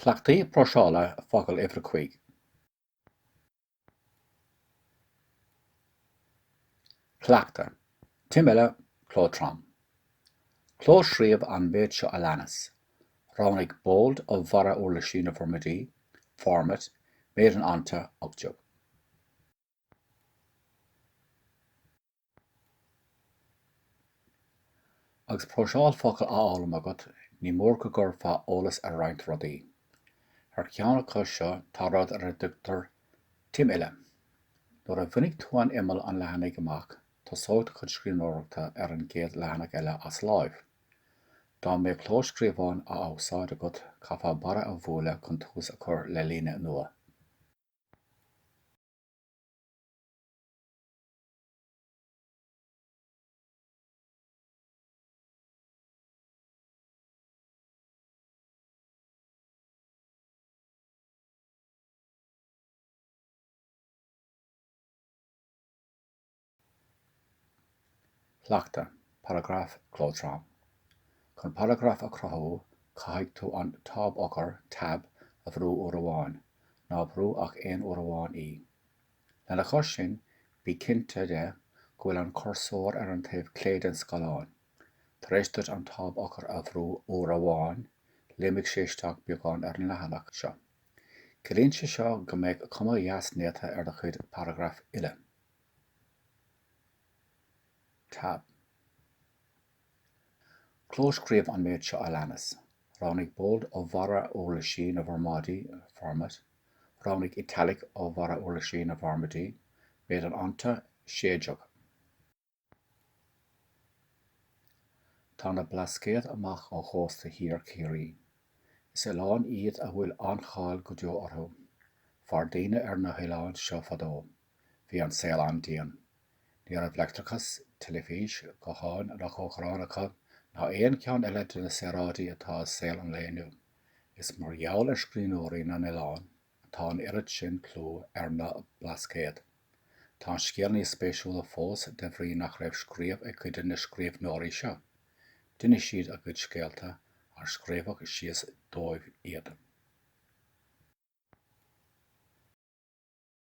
Cleachtaí próiseála focal uimhir a cúig. Cleachtadh, Timfhilleadh, cló trom. Clóscríobh an méid seo a leanas, Roghnaigh bold ó bharra uirlisí na bhformáidí, Format, méid an fhonta, 18. Agus próiseáil focal á fhoghlaim agat, ní mór go gcuirfeá eolas ar roinnt rudaí. Ar cheann acu seo tá rud ar a dtugtar 'Timfhilleadh'. Nuair a bhainfidh tú an imeall an leathanaigh amach, tosóidh do chuid scríbhneoireachta ar an gcéad leathanach eile as láimh. Dá mbeadh clóscríobhán á úsáid agat, chaithfeá barra a bhualadh chun tús a chur le líne nua. Cleachtadh, Paragraif Cló trom. Chun paragraf a chruthú, caithfidh tú an táb-eochair, tab, a bhrú uair amháin. Ná brú ach aon uair amháin í. Lena chois sin, bí cinnte de go bhfuil an cursóir ar an taobh clé den scáileán. Tar éis duit an táb-eochair a bhrú uair amháin, léimfidh sé isteach beagán ar an leathanach seo. Ciallaíonn sé seo go mbeidh cuma dheas néata ar do chuid paragraf uile. Tab. Clóscríobh an méid seo a leanas, roghnaigh Bold ó bharra uirlisí na bhformáidí, Format, roghnaigh Italic ó bharra uirlisí na bhformáidí, Méid an fhonta, 16. Tá na Blascaod amach ó chósta thiar Chiarraí. Is oileáin iad a bhfuil an-cháil go deo orthu. Mhair daoine ar na hoileáin seo fadó. bhí an saol an-dian. Ní raibh leictreachas, teilifís, gutháin ná cócaireáin acu ná aon cheann eile de na saoráidí atá i saol an lae inniu. Is mar gheall ar scríbhneoirí na n-oileán atá an oiread sin clú ar na Blascaod. Tá an scéal níos spéisiúla fós de bhrí nach raibh scríobh ag cuid de na scríbhneoirí seo. D'inis siad a gcuid scéalta ar scríobhadh síos dóibh iad.